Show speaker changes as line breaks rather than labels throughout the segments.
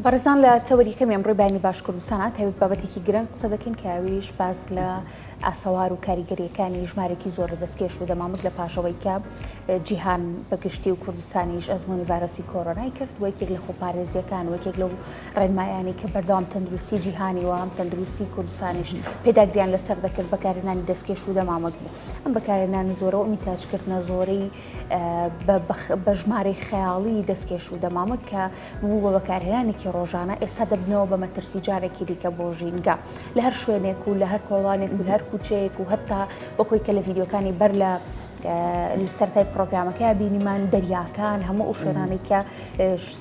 بەڕێزان لە تەوەری کەمی ئەمڕۆی بەیانی باش کوردستانە تایبەت بابەتێکی گرنگ قسە دەکەین کە ئەویش باس لە ئاسەوار و کاریگەریەکانی ژمارێکی زۆر لە دەستکێش و دەمامک لە پاشەوەی کە جیهان بەگشتی و کوردستانیش ئەزمموی ڤایرۆسی کۆرۆنای کرد وەکێک لە خۆپارێزیەکان وەکێک لەو ڕێنمایانی کە بەردەوام تەندروستی جیهانی و هەم تەندروستی کوردستانیش پێداگریان لەسەر دەکرد بەکارێنانی دەستکێش و دەمامک بوو ئەم بەکارێنانی زۆرەوە میتاجکردنە زۆرەی بە ژمارەی خەیاڵیی دەستکێش و دەمامک کە ببوو بە بەکارهێنانێکی ڕۆژانە، ئێستا دەبنەوە بە مەترسی جارێکی دیکە بۆ ژینگە. لە هەر شوێنێک و لە هەر کۆڵانێک و لە هەر کووچەیەک و هەتا بە کۆی کە لە ڤیدیۆکانی بەر لە سەرەتای پڕۆگرامەکەیا بینیمان، دەریاکان، هەموو ئەو شوێنانەی کە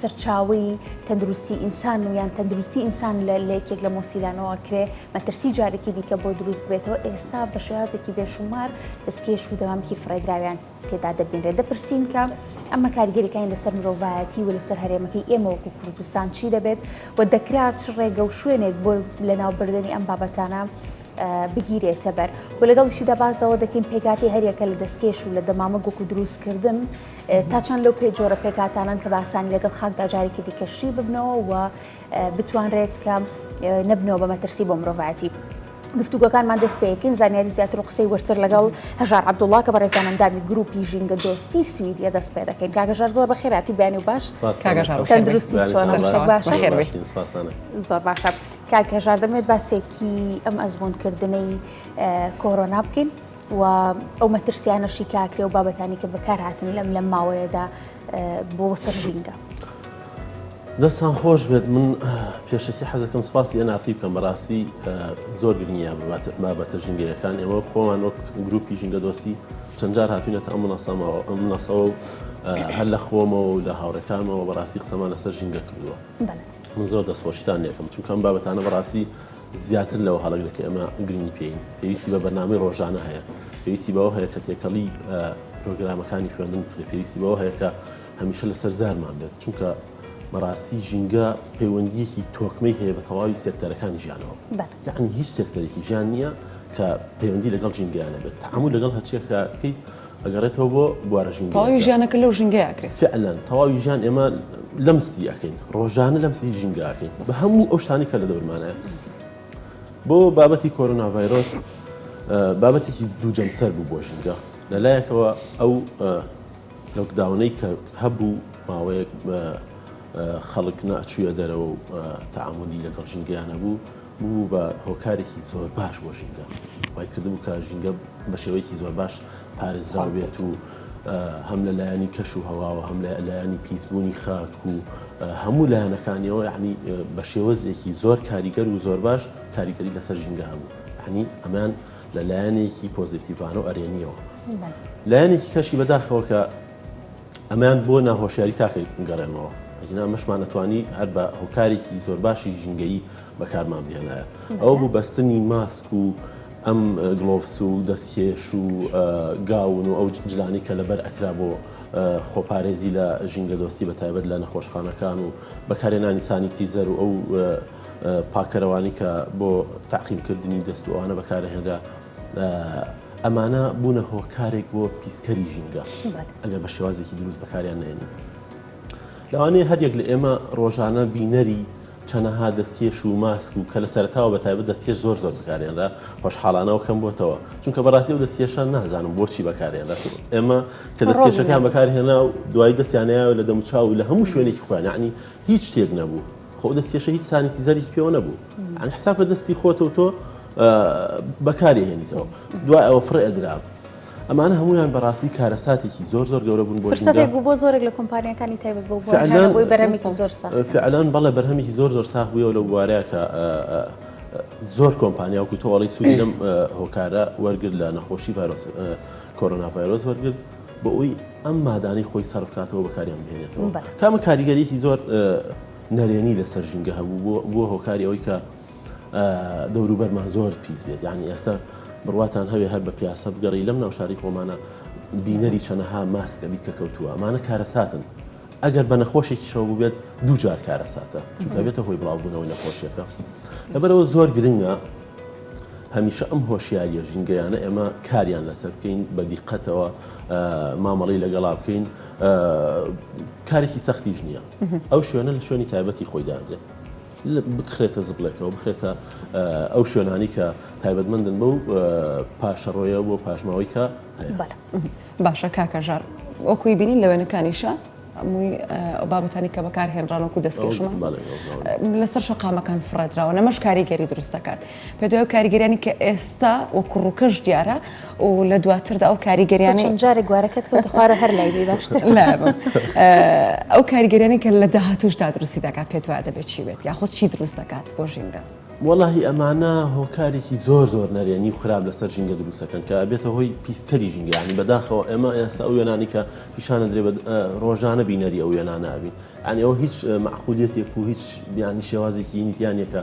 سەرچاوەی تەندروستی ئینسان و یان تەندروستی ئینسان لە یەکێک لە مۆسیلانەوە کرێ، مەترسی جارێکی دیکە بۆ دروست ببێتەوە، ئێستا بە شێوازێکی بێشومار دەستکێش و دەمامکی فڕێدراویان تێدا دەبینرێت، دەپرسین کە ئەمە کاریگەریەکانی لەسەر مرۆڤایەتی و لەسەر هەرێمەکەی ئێمە وەکو کوردستان چی دەبێت و دەکرا چ ڕێگە و شوێنێک بۆ لەناوبردنی ئەم بابەتانە بگیرێتە بەر و لەگەڵیشیدا باس لەوە دەکەین پێکاتی هەریەکە لە دەستکێش و لە دەمامە گوک و دروستکردن تا چەند لەو پێ جۆرە پێکاتانن کە باسانی لەگەڵ خاکدا جارێکی دیکەشی ببنەوە و بتوانرێت کە نەبنەوە بە مەترسی بۆ مرۆڤایەتی. گفتوگەکانمان دەست پێکن زانیاری زیاتر و قسەی ورتر لەگەڵ هەژار عبدوڵا کە بە ڕێزانەندامی گروپی ژینگە دۆستی سویدە دەست پێ دەکەین کاگەژار زۆر بە خێراتی بیانی و باش تەندروستی چۆنە باش زۆر باشە کاک هەژار دەمێت باسێکی ئەم ئەزمونکردنەی کۆرۆنا بکەین و ئەو مەترسیانەشی کاکرێ و بابەتانی کە بەکار هاتن لەم لەم ماوەیەدا بۆ سەر ژینگە.
دەستان خۆش بێت من پێشەکی حەزەکەم سپاسی ئەنافی بکەم بەڕاستی زۆر گرنگە بابەتە ژینگەیەکان ئێوە خۆمان وەک گروپی ژینگە دۆستی چەندجار هاتوینەتە ئەم منەسەمەوە ئەم منەسەوە و هەر لە خۆمەوە و لە هاوڕەکانمەوە بەڕاستی قسەمان لەسەر ژینگە کردووە من زۆر دەستخۆشیتان یەکەم چونکەم بابەتانە بەڕاستی زیاتر لەوە هەڵەگرە کە ئێمە گرنگی پێین، پێویستی بە بەرنامەی ڕۆژانە هەیە، پێویستی بەوە هەیە کە تێکەڵی پرۆگرامەکانی خوێندن بکرێت، پێویستی بەوە هەیە کە هەمیشە لەسەر زارمان بێت، چونکە بەڕاستی ژینگە پەیوەندیەکی تۆکمەی هەیە بە تەواوی سێکتەرەکانی ژیانەوە، یانی هیچ سێکتەرێکی ژیان نییە کە پەیوەندی لەگەڵ ژینگەیانە بێت، تەعامول لەگەڵ هەرچیەکە بکەیت، ئەگەڕێتەوە بۆ بوارە ژینگەیەکە. تەواوی ژیانەکە لەو ژینگەیە
ئەکرێ. فعلا تەواوی ژیان
ئێمە لەم ستی ئەکەین. ڕۆژانە لەم ستی ژینگە ئەکەین. بە هەموو ئەو شتانەی کە لە دەورمانەیە. بۆ بابەتی کۆرۆنا ڤایرۆس بابەتێکی دوو جەمسەر بوو بۆ ژینگە. لە لایەکەوە ئەو لۆکداونەی کە هەبوو ماوەیەک خەڵک نەئەچوویە دەرەوە و تەعامولی لەگەڵ ژینگەیان نەبوو. ببوو بە هۆکارێکی زۆر باش بۆ ژینگە وای کردبوو کە ژینگە بە شێوەیەکی زۆر باش پارێزراو بێت و هەم لە لایەنی کەش و هەواوە هەم لە لایەنی پیسبوونی خاک و هەموو لایەنەکانیەوە یعنی بە شێوەزێکی زۆر کاریگەر و زۆر باش کاریگەری لەسەر ژینگە هەبوو هەنی ئەمان لە لایەنێکی پۆزیتیڤان و ئەرێنیەوە لایەنێکی کەشی بەداخەوە کە ئەمەیان بۆ ناهۆشیاری تاکەی گەڕێنەوە ئەگینا ئەمەشمان ئەتوانی هەر بە هۆکارێکی زۆر باشی ژینگەیی بەکارمان بهێنایە ئەو بوو بەستنی ماسک و ئەم گلۆڤس و دەستکێش و گاون و ئەو جلانی کە لەبەر ئەکرا بۆ خۆپارێزی لە ژینگە دۆستی بە تایبەت لە نەخۆشخانەکان و بەکارێنانی سانیتیزەر و ئەو پاکەرەوانی کە بۆ تاقیمکردنی دەست و ئەوانە بەکارهێنرا ئەمانە بوونە هۆکارێک بۆ پیسکەری ژینگە ئەگەر بە شێوازێکی دروست بەکاریان نێنی لەوانەیە هەریەک لە ئێمە ڕۆژانە بینەری چەنەها دەستکێش و ماسک و کە لە سەرتاوە بە تایبەت دەستکێش زۆر زۆر بکارێنرا خۆشحاڵانەوە کەم بۆتەوە چونکە بەڕاستی و دەستکێشان نازانم بۆچی بەکارێنرا ئێمە کە دەستکێشەکان بەکارهێنا و دوای دەستیانەیە لە دەموچاو و لە هەموو شوێنێکی خوێنانی هیچ شتێک نەبوو خۆ دەستکێشە هیچ سانیتیزەری پێوە نەبوو ئەن حساب کە دەستی خۆتەوە تۆ بەکاری هێنیتەوە دوای ئەوە فڕێ ئەدرا ئەمانە هەمویان بەڕاستی کارەساتێکی زۆر زۆر گەورە بوون بۆ فرسەتێک بوو بۆ زۆرێک لە
کۆمپانیەکانی تایبەت بۆ بۆ فعلان- بۆی بەرهەمێکی زۆر ساخت فعلان بەڵێ بەرهەمێکی
زۆر زۆر ساخ بووە لەو بوارەیە کە زۆر کۆمپانیا وەکو تۆڵی سوودی لەم هۆکارە وەرگر لە نەخۆشی ڤایرۆس کۆرۆنا ڤایرۆس وەرگر بۆ ئەوی ئەم مادانەی خۆی سەرفکاتەوە بەکاریان بهێنێتەوە بەڵێ. کامە کاریگەریەکی زۆر نەرێنی لەسەر ژینگە هەبوو بۆ بۆ هۆکاری ئەوەی کە دەوروبەرمان زۆر پیس بێت یانی ئێستا بڕواتان هەوێ هەر بە پیاسە بگەڕی لەم ناوشاری خۆمانە بینەری چەنەها ماسکە بیت کە کەوتووە ئەمانە کارەساتن ئەگەر بە نەخۆشێکیشەوە بووبێت دووجار کارەساتە چونکە بێتە هۆی بڵاوبوونەوەی نەخۆشیەکە لەبەرەوە زۆر گرنگە هەمیشە ئەم هۆشیاریە ژینگەیانە ئێمە کاریان لەسەر بکەین بە دیقەتەوە مامەڵی لەگەڵا بکەین کارێکی سەختیش نییە ئەو شوێنە لە شوێنی تایبەتی خۆی دادێت بخرێتە زبڵێکەوە، بخرێتە ئەو شوێنانی کە تایبەتمەندن بەو پاشەڕۆیە بۆ پاشماوەی کە هەیە.
باشە کاکە ژان، وەکوی بینین لە وێنەکانیشە هەمووی ئەو بابەتانی کە بەکارهێنراون وەکو دەستکێشمان لەسەر شەقامەکان فڕێدراوە، ئەمەش کاریگەری دروست دەکات. بەدوای ئەو کاریگەریانی کە ئێستا وە کوڕوکەش دیارە و لە دواتردا ئەو کاریگەریانی چەند جارێک گوارەکەت
کەوتە خوارە هەر لای بی باشتر
ئەو کاریگەریانی کە لە داهاتوشدا دروستی دەکات پێت وایە دەبێت چی بێت یاخود چی دروست دەکات بۆ ژینگە؟ وەڵاهی ئەمانە
هۆکارێکی زۆر زۆر نەرێنی و خراپ لەسەر ژینگە دروستەکەن کە ئەبێتە هۆی پیسکەری ژینگەیانی بەداخەوە ئێمە ئێستا ئەو وێنانی کە پیشانە درێ ڕۆژانە بینەری ئەو وێنانە ئەبین ئەنیەوە هیچ معقولیتێک و هیچ بیانی شێوازێکی نیتیانەکە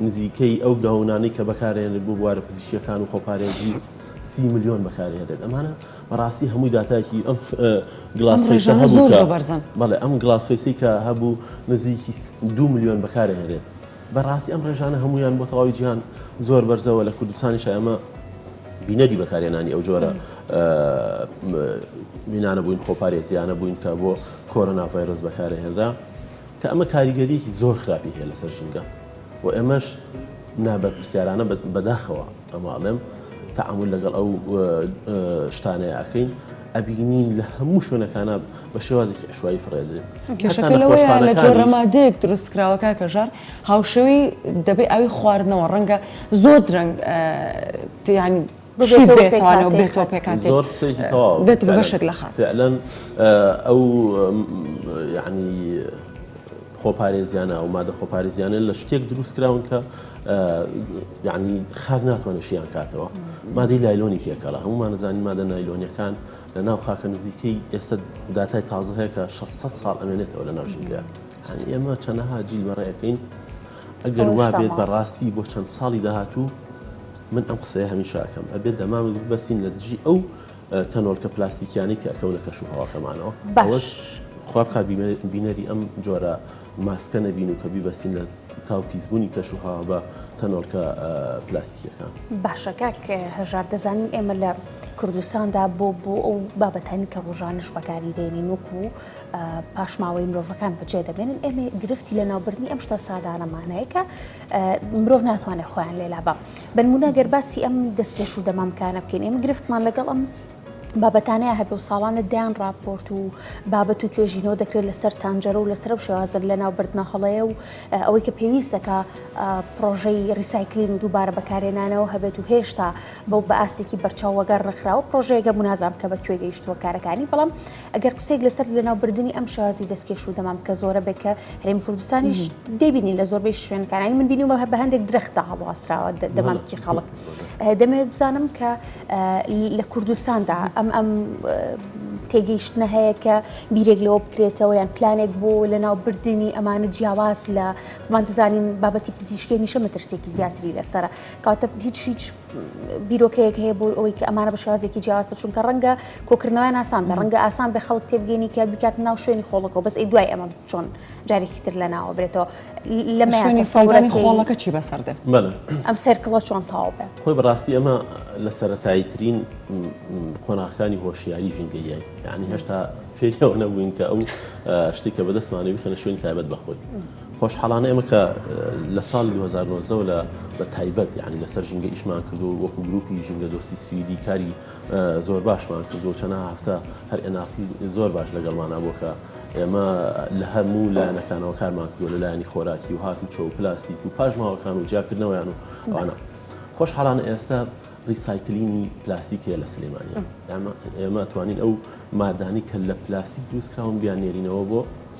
نزیکەی ئەو گەونانەی کە بەکارئەهێنرێت بۆ بوارە پزیشکیەکان و خۆپارێزی سی ملیۆن بەکارئەهێنرێت ئەمانە بەڕاستی هەمووی داتایەکی ئەم گلاس فەیسە هەبوو کە بەڵێ ئەم گلاس فەیسی کە هەبوو نزیکی دو ملیۆن بەکارئەهێنرێت بەڕاستی ئەم ڕێژانە هەمویان بۆ تەواوی جیهان زۆر بەرزەوە لە کوردستانیش ئەمە بینەری بەکارهێنانی ئەو جۆرە بینانە بووین خۆپارێزیانە بووین کە بۆ کۆرۆنا ڤایرۆس بەکارهێنرا کە ئەمە کاریگەریەکی زۆر خراپی هەیە لەسەر ژینگە و ئێمەش نابەرپرسیارانە بەداخەوە ئەمە ئەڵێم تەعامل لەگەڵ ئەو شتانەیە ئەکەین ئەبینین لە هەموو شوێنەکانە بە شێوازێکی عشوایی فڕێدرێت
لە جۆرە مادەیەک دروست کراوەکە کەژار هاوشەوی دەبێ ئەوی خواردنەوە ڕەنگە زۆر درەنگ
خۆپارێزیانە ئەو مادە خۆپارێزیانە لە شتێک دروست کراون کە یعنی خاک ناتوانێت شیان کاتەوە مادەی لایلۆنی پێکەڵە هەمومانەزانانی مادە نایلۆنیەکان لە ناو خاکە نزیکەی ئێستا داتای تازە هەیە کە 600 ساڵ ئەمێنێتەوە لە ناوژینگە هەنی ئێمە چەنەها جیل بەڕێەکەین ئەگەر وابێت بەڕاستی بۆ چەند ساڵی داهاتوو من ئەم قسەیە هەمیشە ئەکەم ئەبێت دەمامک ببەستین لە دژی ئەو تەنۆلکە پلاستیکیانی کە ئەکەونە کەش و هەواکەمانەوە باش خواب کا بینەری ئەم جۆرە ماسکە نەبین و کە بیبەستین لە تاو پیسبوونی کەش و هاوا بە تەنۆلکە پلاستیکەکان باشەکە
کە هەژار دەزانین ئێمە لە کوردستاندا بۆ بۆ ئەو بابەتانی کە ڕۆژانش بەکاری دێنین وەکو پاشماوەی مرۆڤەکان بەجێ دەبێنن ئێمە گرفتی لە ناوبردنی ئەم شتە سادانەمانەیە کە مرۆڤ ناتوانێت خۆیان لێلا بە بنمونە گەر باسی ئەم دەستکێش و دەمامکانە بکەین ئێمە گرفتمان لەگەڵ ئەم بابەتانەیە هەبێ و ساڵانە دەیان راپۆرت و بابەت و توێژینەوە دەکرێت لەسەر تانجەرە و لەسەر و شێوازن لە ناو بردنە هەڵەیە و ئەوەی کە پێویستەکە پرۆژەی ریسایکلین و دووبارە بەکارێنانەوە هەبێت و هێشتا بەو بە ئاستێکی بەرچاوەگەر ڕخراوە پرۆژەیەگە منازام کە بە کوێ گەیشتووە کارەکانی بەڵام ئەگەر قسەیەک لەسەر لەناوبردنی ئەم شێوازی دەستکێش و دەمام کە زۆرە بێت کە هەرێمی کوردستانیش دەبینین لە زۆربەی شوێنکارانی من بینیومە هە بە هەندێک درەختدا هەڵواسراوە دەمامکی خەڵک دەمەوێت بزانم کە لە کوردستاندا ئەم ئەم تێگەیشتنە هەیە کە بیرێک لەوە بکرێتەوە یان پلانێک بۆ لە ناوبردننی ئەمانە جیاواز لە خمان دەزانین بابەتی پزیشکی میشە مەترسێکی زیاتری لەسرە کاتە هیچ هیچ بیرۆکەیەک هەیە بۆ ئەوەی کە ئەمانە بە شێوازێکی جیاوازتر چونکە ڕەنگە کۆکردنەوەیان ئاسان بێ ڕەنگە ئاسان بێ خەڵک تێبگەنی کە بیکات ناو شوێنی خۆڵەکەەوە بەس ئەی دوای ئەمە چۆن جارێکی تر لە ناوە برێتەوە لە شوێنی
سەڵدانی خۆڵەکە چی بەسەر دێ بەە ئەم سەرکڵە
چۆن تاو
بێ خۆی بەڕاستی ئەمە
لە سەتایی ترین قۆناغەکانی هۆشیاری ژینگەیی یعنی هێشتا فێریەوە نەبووین کە ئەو شتێکە بەدەستمانەوی خەنە شوێن تایبەت بەخۆی. خۆشحاڵانە ئێمە کە لە ساڵی دوو هەزار و نۆزدە وە لە بە تایبەت یانی لەسەر ژینگە ئیشمان کردو وەکو گروپی ژینگە دۆستی سویدی کاری زۆر باشمان کردو چەنە هەفتە هەر ئێناقتی زۆر باش لەگەڵمانە بۆ کە ئێمە لە هەموو لایەنەکانەوە کارمان کردو لە لایەنی خۆراکی و هات و چۆ و پلاستیک و پاشماوەکان و جیاکردنەوەیان و ئەوانە خۆش حاڵانە ئێستا ڕیسایکلینی پلاستیک هەیە لە سلێمانی ئێمە توانین ئەو مادانی کە لە پلاستیک دروستکراون بیان نێرینەوە بۆ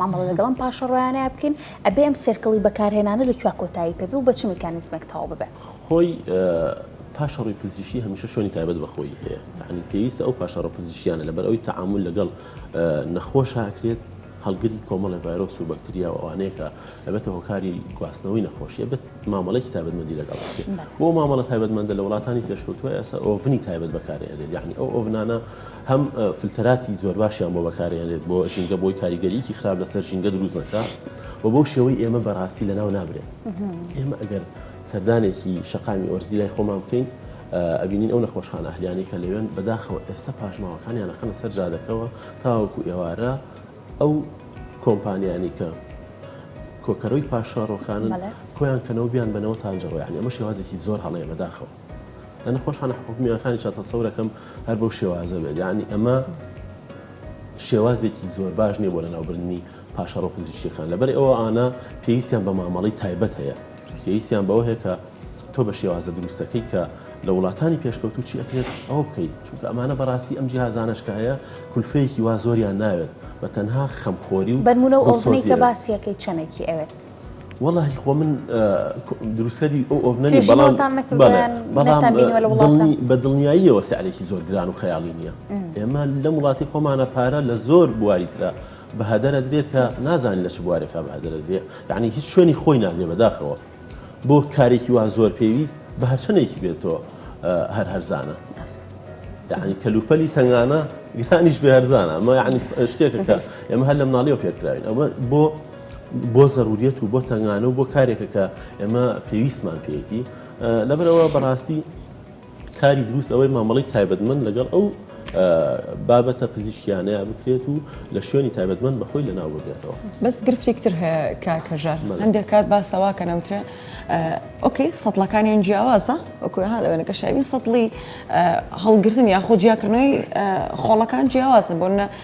مامەڵە لەگەڵ ئەم پاشەڕۆیانەیا بکەین، ئەبێ ئەم سێرکڵی بەکارهێنانە لە کوێا کۆتایی پێ بێ و بە چ میکانیزمێک تەواو ببێ؟ خۆی
پاشەڕۆی پزیشکی هەمیشە شوێنی تایبەت بە خۆی هەیە، یەعنی پێویستە ئەو پاشەڕۆ پزیشکیانە لەبەر ئەوی تەعامول لەگەڵ نەخۆشا ئەکرێت، هەڵگری کۆمەڵێ ڤایرۆس و بەکتریا و ئەوانەیە کە ئەبێتە هۆکاری گواستنەوەی نەخۆشی، ئەبێت مامەڵەیەکی تایبەتمەندی لەگەڵ بکرێت. بۆ مامەڵە تایبەتمەندە لە وڵاتانی پێشکەوتووە ئێستا ئۆڤنی تایبەت بەکارئەهێنرێت، یەعنی ئەو ئۆڤنانە هەم فلتەراتی زۆرباشیان بۆ بەکارهێنرێت بۆ ژینگە بۆی کاریگەریکی خراپ لەسەر ژینگە دروست نەکا و بەو شێوەی ئێمە بەڕاستی لە ناو نابرێت ئێمە ئەگەر سەردانێکی شقامی ئۆرزی لای خۆمان بکەین ئەبینین ئەو نەخۆشخان ئەهلیانی کە لەوێن بەداخەوە ئێستا پاشماوەکانیان لەقەنە سەر جادەکەەوە تاوەکو ئێوارە ئەو کۆمپانیانی کە کۆکەرەوەی پاشڕۆکانن کۆیان کەنەوە بیان بنەوە تاجەڕۆیان ئەمە شێوازێکی زۆر هەڵەیە بەداخەوە. لە نەخۆشخانە حکومییەکانیشا تەسەورەکەم هەر بەو شێوازە بێت یعنی ئەمە شێوازێکی زۆر باش نییە بۆ لەناوبردنی پاشەڕۆ پزیشکەکان لەبەر ئەوە ئانا پێویستیان بە مامەڵی تایبەت هەیە پێویستیان بەوە هەیە کە تۆ بە شێوازە دروستەکەی کە لە وڵاتانی پێشکەوتو چی ئەکرێت ئەوە بکەیت چونکە ئەمانە بەڕاستی ئەم جیهازانشکە هەیە کولفەیەکی وا زۆریان ناوێت بە تەنها خەمخۆری و بەرمونە و ئەوزنەی کە
باسیەکەی چەنێکی ئەوێت. وەڵا هی خۆ
من دروستکەری ئەو ئۆڤنە نیم، بەڵام تێژینەوەتان نەکردووە بەڵێ، یان بەڵام نەتان بینیوە لە وڵاتان؟ دڵنی- بە دڵنیاییەوە سعرێکی زۆر گران و خەیاڵی نییە ئێمە لەم وڵاتی خۆمانە پارە لە زۆر بواری ترە بە هەدەر ئەدرێت کە نازانین لە چ بوارێکا بە هەدەر ئەدرێ یانی هیچ شوێنی خۆی ناگرێ بەداخەوە بۆ کارێکی وا زۆر پێویست بە هەرچەندێکی بێتەوە هەر هەرزانە ڕاست. یانی کەلوپەلی تەنگانە گرانیش بێ هەرزانە ئەمە یانی شتێکە کە ئێمە هەر لە مناڵیەوە فێرکراوین ئەمە بۆ بۆ زەروریەت و بۆ تەنگانە و بۆ کارێکە کە ئێمە پێویستمان پێێتی لەبەرەوە بەڕاستی کاری دروست ئەوەی مامەڵی تایبەتمن لەگەڵ ئەو بابەتە پزیشکیانەیە بکرێت و لە شوێنی تایبەتمەند بەخۆی لەناو ببێتەوە بەس گرفتێکتر
هەیە کاکەژار هەندێک کات باسەوا کە نەوترێ ئۆکەی سەڵەکانیان جیاوازە ئۆکوهار ئەوێنەکە شاوی سەڵی هەڵگرتن یاخۆ جیاکردنەوەی خۆڵەکان جیاوازە بۆنە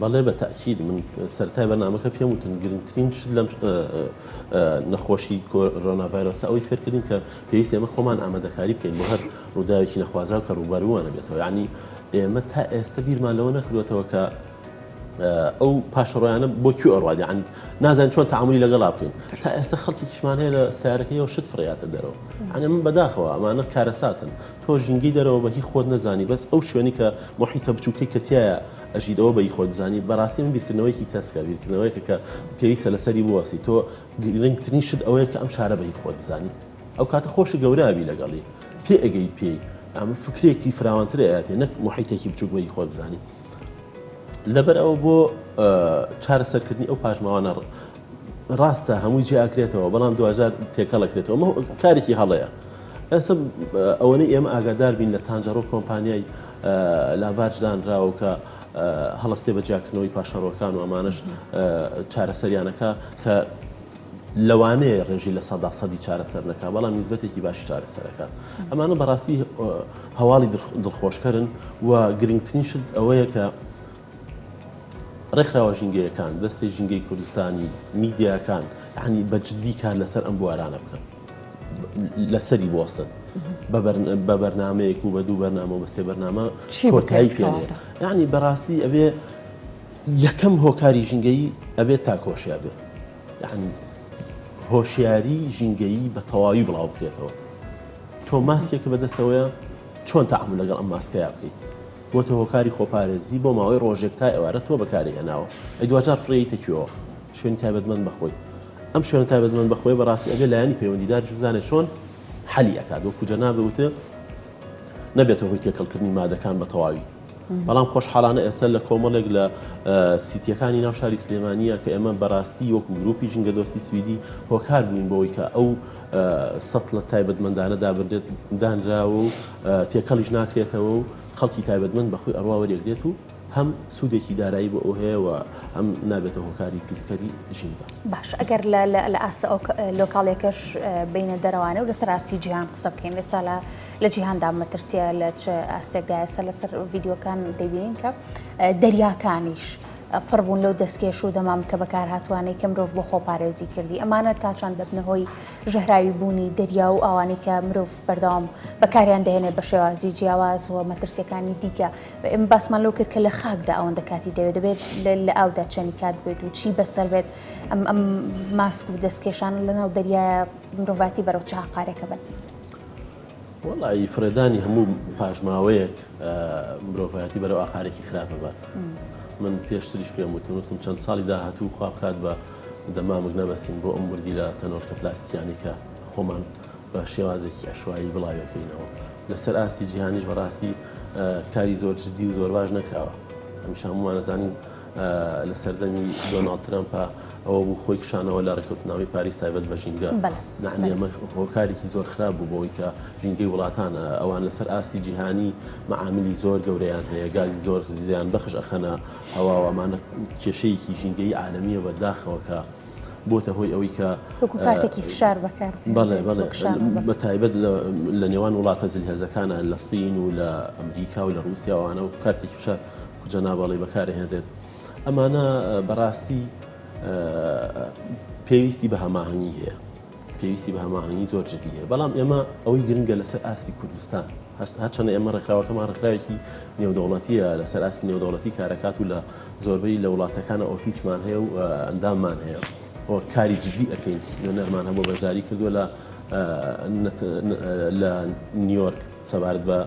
بەڵێ بە تەئکید
من سەرەتای بەرنامەکە پێم وتن گرنگترین شت لەم نەخۆشی کۆرۆنا ڤایرۆسە ئەوەی فێرکردین کە پێویست ئێمە خۆمان ئامادەکاری بکەین بۆ هەر ڕووداوێکی نەخوازراو کە ڕووبەروانە بێتەوە ینی ئێمە تا ئێستا بیرمان لەوە نەکردوێتەوە کە ئەو پاشەڕۆیانە بۆ کی ئەڕوادی عند نازان چۆن تعاملی لەگەڵا بکەین تا ئێستا خەڵکی کشمانەیە لە سیارەکەیەوە شت فڕاتە دەرەوە ئەە من بەداخەوە ئەمانە کارەساتن تۆ ژینگەی دەرەوە بەهی خۆت نەزانی بەس ئەو شوێنی کە محیتە بچووکەی کەتیایە ئەژیت ئەوە بەی خۆت بزانی بەڕاستی من بیرکردنەوەیەکی تەسکە بیرکردنەوەیەکە کە پێویستە لەسەری بوەسی تۆ گرنگترین شت ئەوەیە کە ئەم شارە بەی خۆت بزانی ئەو کاتە خۆشی گەورابی لەگەڵی پێ ئەگەی پێی ئەم فکرێکی فراوانتر ئااتێ نەک محیتێکی بچوک بەی خۆت بزانی لەبەر ئەوە بۆ چارەسەرکردنی ئەو پاشماوانە ڕاستە هەمووی جێ ئەکرێتەوە بەڵام دواجار تێکەڵەکرێتەوە مە کارێکی هەڵەیە ئەسە ئەوەی ئێمە ئاگادار بین لە تانجەڕۆ کۆمپانیای لاڤارج دانراوە کە هەڵستێ بە جیاکردنەوەی پاشەڕۆکان و ئەمانش چارەسەریانەکە کە لەوانەیە ڕێژی لە سەدا سەدی چارەسەر نەکە بەڵام نزبەتێکی باشی چارەسەرەکە ئەمانە بەڕاستی هەواڵی دڵخۆشکەرن و گرنگترین شت ئەوەیە کە ڕێکخراوە ژینگەیەکان، دەستەی ژینگەی کوردستانی، میدیاکان یانی بە جددی کار لەسەر ئەم بوارانە بکەن. لەسەری بوەستن بە بەرنمەیەک و بە دوو بەرنامە بە سێ بەرنامە کۆتایی پێێ یعنی بەڕاستی ئەبێ یەکەم هۆکاری ژینگەی ئەبێت تا کۆشیا بێت یعنی هۆشیاری ژینگەیی بە تەواوی بڵاو بکرێتەوە تۆ ماسیەکە بەدەستەوەە چۆن تعمل لەگەڵ ئەم ماسکەیە بکەیت بۆتە هۆکاری خۆپارێزی بۆ ماوەی ڕۆژێک تا ئێوارە تۆ بەکاری هێناوە ئەی دواجار فڕێیتە کوێوە شوێنی تایبەتمەند بەخۆی ئەم شوێنە تایبەتمەند بەخۆی بەڕاستی ئەبێ لایەنی پەیوەندیداریش بزانێت چۆن حەلی ئەکات وەکو جەنابێ وتە نەبێتە هۆی تێکەڵکردنی مادەکان بە تەواوی بەڵام خۆشحاڵانە ئێستا لە کۆمەڵێک لە سیتیەکانی ناو شاری سلێمانە کە ئێمە بەڕاستی وەکو گروپی ژنگە دۆستی سویدی هۆکار بووین بۆی کە ئەو سەتڵە تایبەتمەندانە دابنرێت دانراوە و تێکەڵیش ناکرێتەوە و خەڵکی تایبەتمەند بەخۆی ئەڕوا وەریەگرێت و هەم سوودێکی دارایی بۆ ئەو هەیە و هەم نابێتە هۆکاری پیسکەری ژینگە. باش ئەگەر
لە ئاستە ئەو لۆکاڵیەکەش بینە دەرەوانێ و لەسەر ئاستی جیهان قسە بکەین ئێستا لە جیهاندا مەترسیە لە چ ئاستێکدایە سەر لەسەر ڤیددیوەکان دەبینین کە دەریاکانیش پڕ بوون لەو دەستکێش و دەمامکە بەکارهاتووانەی کە مرۆڤ بۆ خۆپارێزی کردی، ئەمانە تاچەند دەبنە هۆی ژەهراوی بوونی دەریا و ئاوانەی کە مرۆڤ بەردەوام بەکاریان دەهێنێت بە شێوازی جیاواز و مەترسییەکانی دیکە. ئێمە باسمان لەوە کرد کە لە خاکدا ئەوەندە کاتی دەوێت، دەبێت لە ئاودا چەنی کات بێت و چی بەسەر بێت ئەم ئەم ماسک و دەستکێشانە لەناو دەریایە مرۆڤایەتی بەرەو چ هاقارێکە بن.
وەڵا ی فڕێدانی هەموو پاشماوەیەک مرۆڤایەتی بەرەو ئاقارێکی خراپ ئەبات من پێشتریش پێم وتن وتم چەند ساڵی داهاتوو خوا بکات بە دەمامک نەبەستین بۆ ئەم وردیلە تەنۆلکە پلاستیکیانەی کە خۆمان بە شێوازێکی ئەشوایی بڵاویەکەینەوە لەسەر ئاستی جیهانیش بەڕاستی کاری زۆر جددی و زۆر باش نەکراوە هەمیشە هەمووانەزانین لە سەردەمی دۆناڵد ترەمپ ئەوە بوو خۆی کشانەوە لە ڕێککەوتنامەی پاریس تایبەت بە ژینگە نعنی ئەمە هۆکارێکی زۆر خراپ بوو بۆی کە ژینگەی وڵاتان ئەوان لەسەر ئاستی جیهانی معاملی زۆر گەوریان هەیە گازی زۆر زیان بەخش ئەخەنە هەواوامانە کێشەیەکی ژینگەی عالمیە بە داخەوەکە بۆتە هۆی ئەوەی کە کاتێکی فشار
بەکار بەڵێ بەڵێ
بە تایبەت لە نێوان وڵاتە زل هێزەکانە لە سین و لە ئەمریکا و لە رووسیاوانە و کاتێکی فشار کجا نابەڵی بەکارهێنرێت ئەمانە بەڕاستی پێویستی بە هەماهنگی هەیە پێویستی بە هەماهنگی زۆر جدی هەیە بەڵام ئێمە ئەوەی گرنگە لەسەر ئاستی کوردستان هەچەنە ئێمە ڕێکخراوەکەمان ڕێکخراوێکی نێودەوڵەتیە لەسەر ئاستی نێودەوڵەتی کارەکات و لە زۆربەی لە وڵاتەکانە ئۆفیسمان هەیە و ئەنداممان هەیە کاری جدی ئەەکەین نوێنەرمان هەبوو بەشداری کردووە لە لە نیویۆرک سەبارەت بە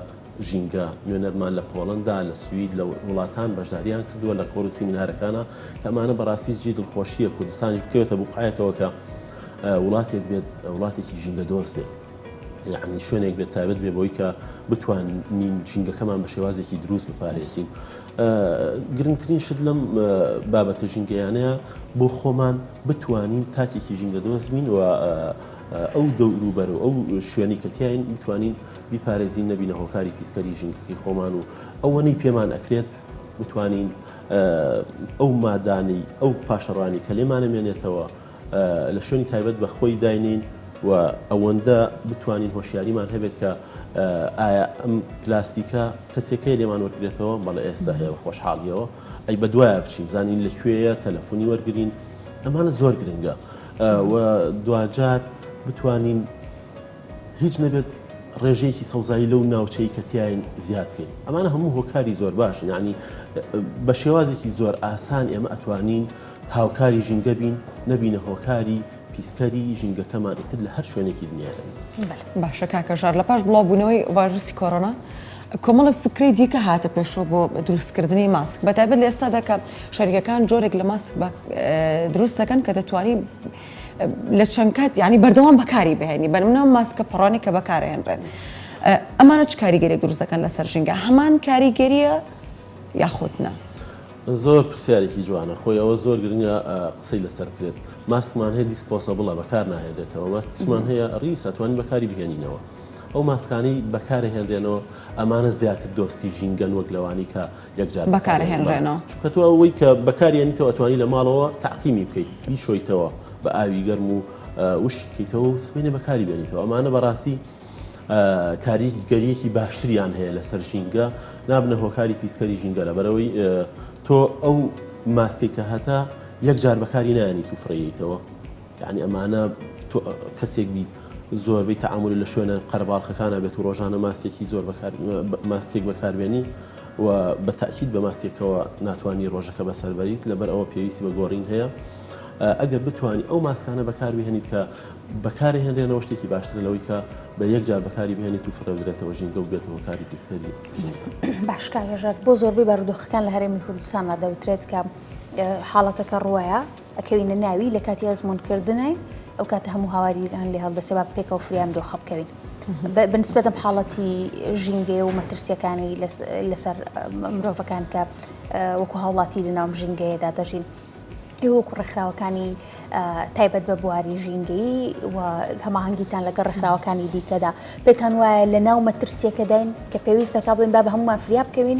ژینگە، نوێنەرمان لە پۆڵەندا، لە سوید، لە وڵاتان بەشدارییان کردووە لە کۆڕ و سیمینارەکانا، کە ئەمانە بەڕاستی جێی دڵخۆشییە کوردستانیش بکەوێتە بوقعەیەکەوە کە وڵاتێک بێت وڵاتێکی ژینگە دۆست بێت. یعنی شوێنێک بێت تایبەت بێ بۆی کە بتوانین ژینگەکەمان بە شێوازێکی دروست بپارێزین گرنگترین شت لەم بابەتە ژینگەیانەیە بۆ خۆمان بتوانین تاکێکی ژینگە دۆزمین و ئەو دەوروبەر و ئەو شوێنی کە تیاین بتوانین بیپارێزین نەبینە هۆکاری پیسکەری ژینگەکەی خۆمان و ئەوەنەی پێمان ئەکرێت بتوانین ئەو مادانی ئەو پاشەڕانی کە لێمانەمێنێتەوە لە شوێنی تایبەت بە خۆی داینین و ئەوەندە بتوانین هۆشیاریمان هەبێت کە ئایا ئەم پلاستیکە کەسێکەکە لێمان وەرگێتەوە بەڵە ئێستا هەیە بە خۆشحاڵیەوە ئەی بە دوایە بچین زانین لە کوێیە تەلەفۆنی وەرگین ئەمانە زۆر گرنگە و دوجار بتوانین هیچ نەبێت ڕێژەیەکی سەوزایی لەو ناوچەی کە تیاین زیاد بکەین ئەمانە هەموو هۆکاری زۆر باشن یعنی بە شێوازێکی زۆر ئاسان ئێمە ئەتوانین هاوکاری ژینگە بین نەبینە هۆکاری پیسکەری ژینگەکەمان ئیتر لە هەر شوێنێکی دنیا باشە کاکە
ژار لە پاش بڵاوبوونەوەی ڤایرسی کۆرۆنا کۆمەڵە فکری دیکە هاتە پێشەوە بۆ دروستکردنی ماسک بەتابێت لە ئێستادا کە شەریکەکان جۆرێک لە ماسک دروستەکەن کە دەتوانین لە چەند کات یعنی بەردەوام بەکاری بهێنی بەرمنەوە ماسکە پڕانی کە بەکارهێنرێت ئەمانە چ کاریگەری دروست دەکەن لەسەر ژینگە هەمان کاریگەریە یاخود نا.
زۆر پرسیارێکی جوانە خۆی ئەوە زۆر گرنگە قسەی لەسەر بکرێت ماسکمان هەیە دیسپۆسەبڵە بەکار ناهێنرێتەوە ماسکمان هەیە ڕیس ئەتوانین بەکاری بهێنینەوە ئەو ماسکانەی بەکارهێنرێنەوە ئەمانە زیاتر دۆستی ژینگەن وەک لەوانی کە یەکجار بەکارهێنرێنەوە.
چونکە تۆ ئەوەی کە
بەکاریێنیتەوە ئەتوانی لە ماڵەوە تاقیمی بکەیت بیشۆیتەوە بە ئاوی گەرم و وشکی بکەیتەوە و سبینێ بەکاری بێنیتەوە ئەمانە بەڕاستی کاریگەریەکی باشتریان هەیە لەسەر ژینگە نابنە هۆکاری پیسکەری ژینگە لە بەرەوەی تۆ ئەو ماسکێک کە هەتا یەکجار بەکاری نانی تو فڕیتەوە یەعنی ئەمانە تۆ کەسێک بیت زۆربەی تەعامولی لە شوێنە قەرەباڵخەکانە بێت و ڕۆژانە ماسکێکی زۆر ماسکێک بەکاربێنی و بە تاکیید بە ماسکێکەوە ناتوانانی ڕۆژەکە بەسەر بەریت لەبەر ئەوە پێویستی بە گۆڕین هەیە ئەگەر بتانی ئەو ماسکانە بەکاربهێنیت کە بەکاری هێنرێنەوە شتێکی باشترە لەوەی کە بە یەک جار بەکاری بهێنیت و فرەدرێتەوە ژینگە و بێتەوە کاری پیسکەری باشکارێژات
بۆ زۆربەی بارودۆخەکان لە هەرێمی کوردستانە دەوترێت کە حاڵەتەکە ڕوایە ئەکەوینە ناوی لە کاتی ئەزموون کردنی ئەو کاتە هەموو هاواریان لێ هەڵدەسێ با پێکەوە فریام دۆخە بکەوین بنسبەتم حاڵەتی ژینگەیە و مەترسیەکانی لەسەر مرۆڤەکان کە وەکو هاوڵاتی لە ناوم ژینگەیەدا دەژین وەکو ڕێکخراوەکانی تایبەت بە بواری ژینگەی و هەماهنگگیتان لەگە ڕێکخراوەکانی دیکەدا پێتان وایە لە ناو مەترسیەکەداین کە پێویستەکە بڵین با بە هەمومان فریا بکەوین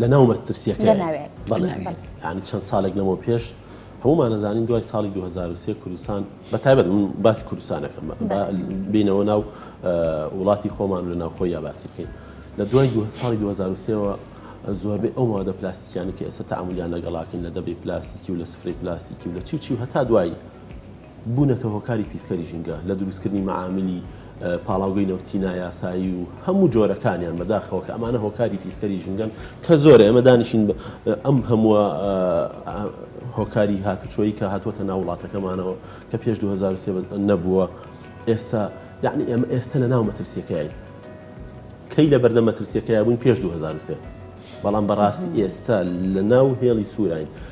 لە ناو مەترسیەکە لە ناوێت بەڵێ لە ناوێت. یانی چەند ساڵێک لەمەو پێش هەموومان ئەزانین دوای ساڵی 2023 کوردستان بە تایبەت من باسی کوردستان ئەکەم بە با بینەوە ناو ە، وڵاتی خۆمان لە ناو خۆییا باسی بکەین لە دوای دوه ساڵی 2023 وە زۆربەی ئەو مادە پلاستیکیانە کە ئێستا تەعامولیان لەگەڵاکەین لە دەبەی پلاستیکی و لە سفرەی پلاستیکی و لە چی و چی و هەتا دوایی بوونەتە هۆکاری پیسکەری ژینگە، لە دروستکردنی مەعاملی پاڵاوگەی نەوتی نایاسایی و هەموو جۆرەکانیان بەداخەوە کە ئەمانە هۆکاری پیسکەری ژینگەن کە زۆرە ئێمە دانیشین ئەم هەمووە هۆکاری هاتوچۆی کە هاتووەتە ناو وڵاتەکەمانەوە کە پێش 2023 نەبووە ئێستا یعنی ئێمە ئێستا لە ناو مەترسیەکەین کەی لە بەردە مەترسیەکەی بووین پێش 2023 بەڵام بەڕاستی ئێستا لە ناو هێڵی سووراین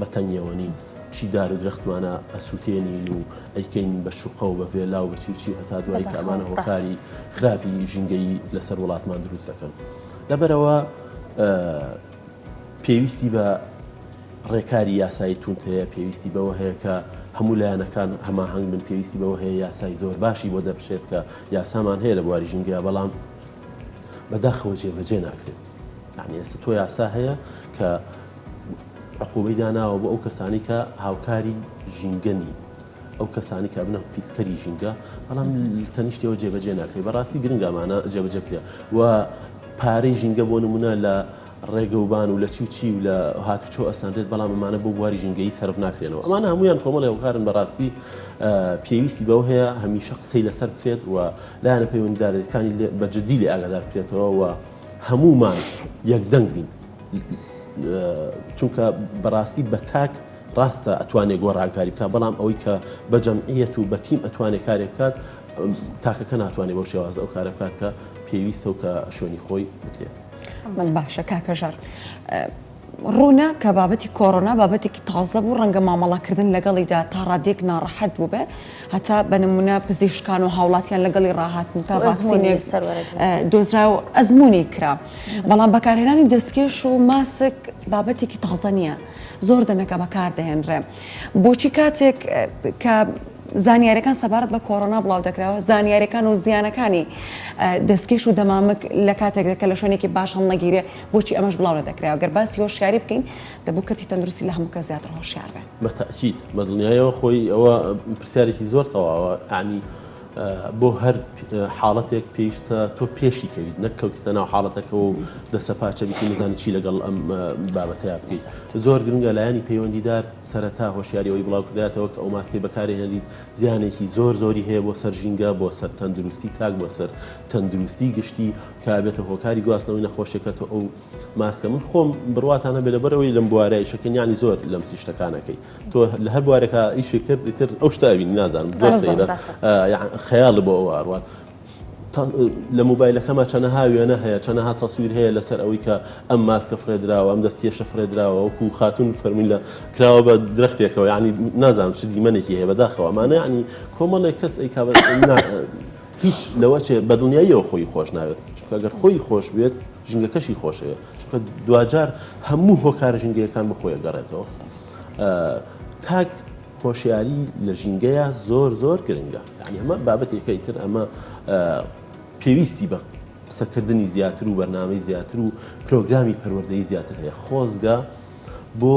بە تەنگیەوە نین چی دار و درەختمانە ئەسووتێنین و ئەیکەین بە شوقە و بە ڤێلا و بە چی و چی هەتا دوایی کە ئەمانە هۆکاری خراپی ژینگەیی لەسەر وڵاتمان دروست دەکەن لەبەرەوە پێویستی بە ڕێکاری یاسایی تونت هەیە پێویستی بەوە هەیە کە هەموو لایەنەکان هەماهنگ من پێویستی بەوە هەیە یاسای زۆر باشی بۆ دەبشێت کە یاسامان هەیە لە بواری ژینگە بەڵام بەداخەوە جێبەجێ ناکرێت یانی ئێستا تۆ یاسا هەیە کە عقوبەی داناوە بۆ ئەو کەسانی کە هاوکاری ژینگە نین ئەو کەسانی کە بنە پیسکەری ژینگە بەڵام تەنیشتەوە جێبەجێ ناکەی بەڕاستی گرنگامانە جێبەجێ بکە و پارەی ژینگە بۆ نمونە لە ڕێگەوبان و لە چی و چی و لە هاتوچۆ ئەسەندێت بەڵام ئەمانە بۆ بواری ژینگەی سرف ناکرێنەوە ئەمان هەمویان کۆمەڵی هەوکارن بەڕاستی پێویستی بەو هەیە هەمیشە قسەی لەسەر بکرێت و لایەنە پەیوەندیدارەکانی بەجددی لێ ئاگادار بکرێتەوە و هەموومان یەک دەنگ بین چونکە بەڕاستی بە تاک ڕاستە ئەتوانێت گۆڕانکاری بکە بەڵام ئەوەی کە بە جەمعیەت و بە تیم ئەتوانێت کارێ بکات تاکەکە ناتوانێت بۆ شێواز ئەو کارە بکات کە پێویستە و کە شوێنی خۆی بکرێت من باشە
کاکەژار ڕوونە کە بابەتی کۆرۆنا بابەتێکی تازە بوو، ڕەنگە مامەڵەکردن لەگەڵیدا تا ڕادەیەک ناڕەحەت بووبێت، هەتا بە نموونە پزیشکان و هاوڵاتیان لەگەڵی ڕاهاتن تا ڤاکسینێک دۆزرا و ئەزموونی کرا، بەڵام بەکارهێنانی دەستکێش و ماسک بابەتێکی تازە نییە، زۆر دەمێکە بەکاردەهێنرێ، بۆچی کاتێک کە زانیاریەکان سەبارەت بە کۆرۆنا بڵاو دەکراوە زانیاریەکان و زیانەکانی دەستکێش و دەمامک لە کاتێک دەکە لە شوێنێکی باش هەڵنەگیرێ بۆچی ئەمەش بڵاو نەدەکرایەوە؟ گەر باسی هۆشیاری بکەین، دەبوو کەرتی تەندروستی لە هەموو کەس زیاتر هۆشیار بێ. بە تەئکید، بە دڵنیایەوە
خۆی ئەوە پرسیارێکی زۆر تەواوە، یەعنی بۆ هەر حاڵەتێک پێویستە تۆ پێشی کەویت، نەک کەوتیتە ناو حاڵەتەکەوە و دەسەپاچە بیت و نەزانی چی لەگەڵ ئەم بابەتەیا بکەیت. زۆر گرنگە لایەنی پەیوەندیدار سەرەتا هۆشیاری ئەوەی بڵاو کردایەتەوە کە ئەو ماسکەی بەکارهێنریت زیانێکی زۆر زۆری هەیە بۆ سەر ژینگە، بۆ سەر تەندروستی تاک، بۆ سەر تەندروستی گشتی کە ئەبێتە هۆکاری گواستنەوەی نەخۆشیەکەتۆ ئەو ماسکە من خۆم بڕواتان هەبێ لەبەرەوەی لەم بوارە ئیشەکە نیانی زۆر لەم سی شتەکانەکەی تۆ لە هەر بوارێکا ئیشی کرد ئیتر ئەو شتاوین نازانم زۆر سەیرە خەیاڵ بۆ ئەو ئاروات لە موبایلەکەمە چەنەها وێنە هەیە چەنەها تەسویر هەیە لەسەر ئەوەی کە ئەم ماسکە فرێدراوە ئەم دەستیێشە فرێدراوە وەکو خاتون فەرمووی لە کراوە بە درختێکەوە ینی نازانم چ دیمەنێکی هەیە بەداخەوە مانە ینی کۆمەڵێک کەس ئەی هیچ نەوەچێ بە دڵنیاییەوە خۆی خۆش ناوێت، چونکە گەر خۆی خۆش بوێت ژینگەکەشی خۆشەوێت، چونکە دواجار هەموو هۆکارە ژینگەیەکان بۆ خۆی ئەگەڕێتەوە. تاک هۆشیاری لە ژینگەیە زۆر زۆر گرنگە، یانی ئەمە بابەتێکەی تر ئەمە پێویستی بە قسەکردنی زیاتر و بەرنامەی زیاتر و پرۆگرامی پەروەردەی زیاتر هەیە، خۆزگە بۆ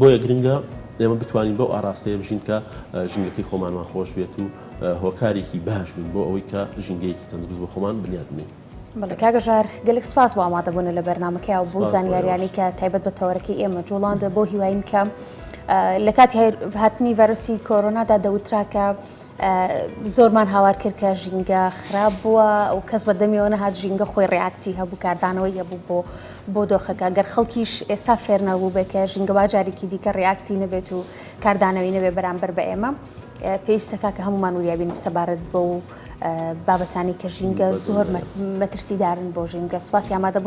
بۆیە گرنگە ئێمە بتوانین بەو ئاراستەیە بژین کە ژینگەکەی خۆمانمان خۆش بێت و هۆکارێکی باش بین بۆ ئەوەی کە ژینگەیەکی تەندروست بۆ خۆمان بنیاد بنین. بەڵکاگەژار
گەلک سپاس بۆ ئامادەبوون لە بەرنمەکەی و بۆ زانیاریانی کە تایبەت بە تەوەرەکەی ئێمە جوڵاندە بۆ هیواین کەم لە کاتی هاتنی ڤەرسی کۆرۆنادا دەوتراکە زۆرمان هاوار کرد کە ژینگە خراپ بووە و کەس بە دەمیەوە نەهات ژینگە خۆی ڕیاکتی هەبوو کاردانەوەی هەبوو بۆ بۆ دۆخەکە گەر خەڵکیش ئێستا فێر نەبوو بێ کە ژینگە با جارێکی دیکە ڕیاکتی نەبێت و کاردانەوەی نەبێ بەرامبەر بە ئێمە پێویستەکە کە هەمومان وریابین سەبارەت بۆ و بابەتانی کە ژینگە زۆر مەترسیدارن بۆ ژینگە سوپاسی ئامادەبوون